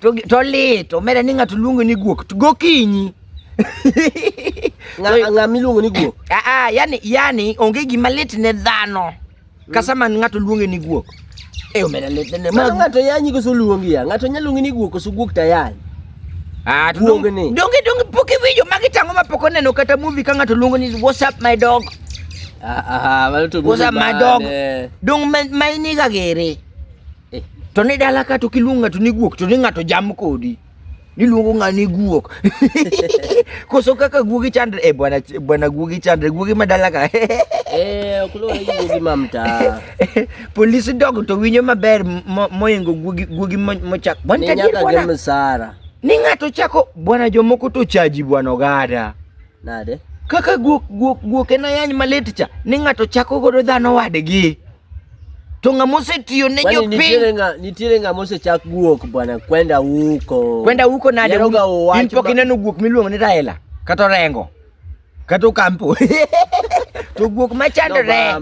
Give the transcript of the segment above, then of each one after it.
to, to lit omera ni ng'ato luongo ni guok to gokinyi ng'a miluongo ni guok aa ah, ah, yani, yani onge gima lit ne dhano kasa man ng'ato luonge ni guok e omera lit ne ng'ato yanyi koso luongi ya ng'ato nyalo luongi ni guok koso guok tayany Ah, donge donge pok iwinjo magi tango ma pok oneno kata movie ka ng'ato luongo ni what's up my dog. Ah, ah, what's up my dog. Dong ma iniga gere. Eh. To ni dala ka to kiluongo ng'ato ni guok to ni ng'ato jam kodi. Niluongo ng'a ni guok. Koso kaka guogi chandre eh, bwana bwana guogi chandre guogi madala ka. eh, okulo guogi mamta. Polise dog to winyo maber moingo guogi guogi mochak. Bwana tajiri bwana. Ni msara. Ni ng'ato chako bwana jomoko to chaji bwana ogada. Nade? Kaka guok guok guok en ayany malit cha. Ni ng'ato chako godo dhano wadgi. To ng'ama osetiyo ne jopiny. Nitiere ng'a nitiere ng'ama osechak guok bwana kwenda huko. Kwenda huko nade? In pok ineno guok miluongo ni Raila kata Orengo. kata okampo to guok machandore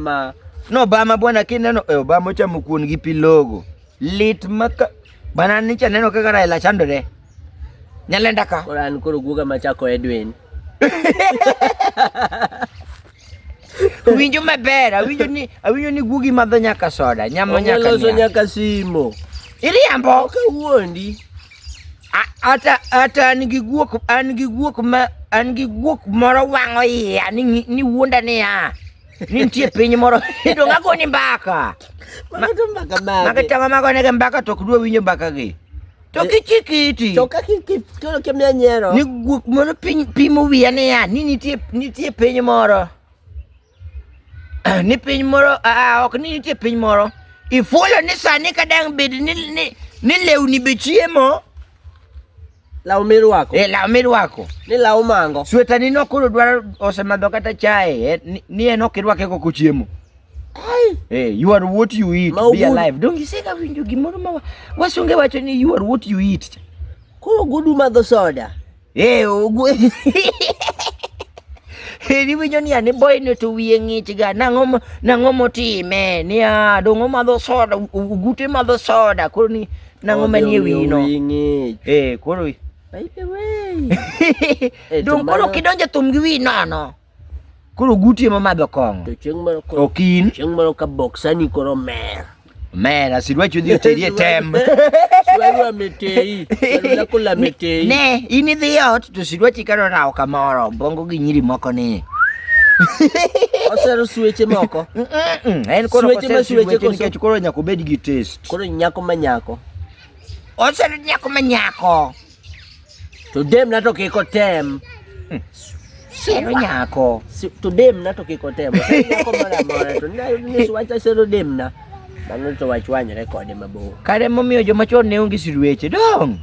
nobama bwana kineno e obama ochamo kuon gi pilogo lit maka bana nicha neno kaka Raila chandore nyalenda ka koro an koro guoga machako Edwin winjo maber awinjo ni awinjo ni guogi madho nyaka soda nyamo nyaka loso nyaka simo iriambo kawuondi Ata ata an gi guok an gi guok ma an gi guok moro wang'o iya ni ni wuonda ni ya. Ni nitie piny moro to ngago ni mbaka. Mago to mbaka ma. Mago to mago ne mbaka to kudwa winjo mbaka gi. To eh, kichikiti. To kaki to kemia nyero. Ni guok moro piny pimo wiya ni ya ni nitie nitie piny moro. ni piny moro aa, ok ni nitie piny moro ifulo ni sani ka dang' bed ni, ni, ni lewni be chiemo law mirwako e law mirwako ni law mango swetani no koro dwaro osemadho kata chae eh, ni- ni en ok irwake kok ochiemo Ai, Eh, you are what you eat, Ma be ogudu. alive. Don't you say ka winjo gimoro ma wa- wasunge wacho ni you are what you eat. koro gudu madho soda Eh, ogwe. Heri winyo ni ani boy ne to wiye ng'ich ga nang'o nang'o motime ni a dongo madho soda ugute madho soda koro ni nang'o manie wino. Eh, koro. By the way. Dongo koro kidonje thum gi wi nono. Koro guti ema madho kong'o. To chieng' moro koro okin. Chieng' moro ka boksani koro mer. Mer asidwachi odhi oteri e tem. Sidwa metei. Sidwa kula metei. Ne, in idhi ot to sidwachi karo rawo kamoro bongo gi nyiri moko ni. Osero sweche moko. En koro sweche ma sweche koro nikech koro nyako bed gi taste. Koro nyako ma nyako. Osero nyako ma nyako. Today mnato kiko tem. Hmm. Sero nyako. Today mnato kiko tem. Nyako mara mara to na ni swacha sero dem na. Mano to wachwanyre kode mabor. Kare momiyo joma chon ne onge sirueche dong.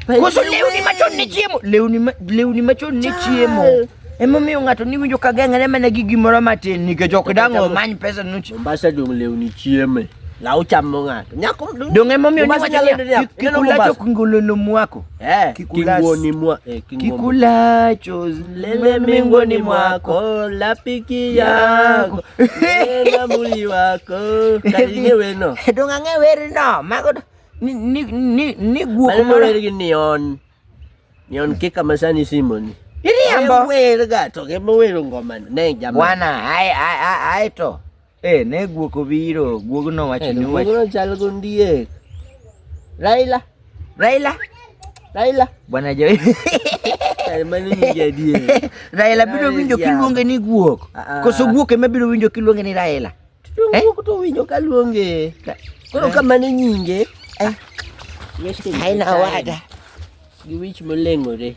Koso lewni machon ne chiemo. Lewni lewni machon ne chiemo. Emomiyo ng'ato ni winjo ka geng're mana gi gimoro matin nikech ok dang' omany pesa nuch. Mombasa dong' lewni chieme. Law chamo ng'ato. Nyako dong' emomiyo ni wacho niya kikulacho kingolono mwako. Eh, kingoni mwa eh, kikulacho lele mingoni mwako lapiki yako lele muli wako kalinge weno. Dong' ang'e werino. Mago ni ni ni ni guok moro. Mago wergi ni on. Nionke kama sani Simoni. Iriambo. Wewe gato kama wewe ngoma ne jamaa. Bwana ai ai ai ai to. Eh ne guoko biro, guogo no wacho ni wacho. Guogo chal gondie. Raila. Raila. Raila. Bwana jo. Mani ni jadie. Raila biro winjo kiluonge ni guok. Ah, ah. Koso guok ema biro winjo kiluonge ni Raila. Eh? Wuok to winjo ka luonge. Koro eh? kamane nyinge. Eh? Aina wada. Giwich moleng'ore.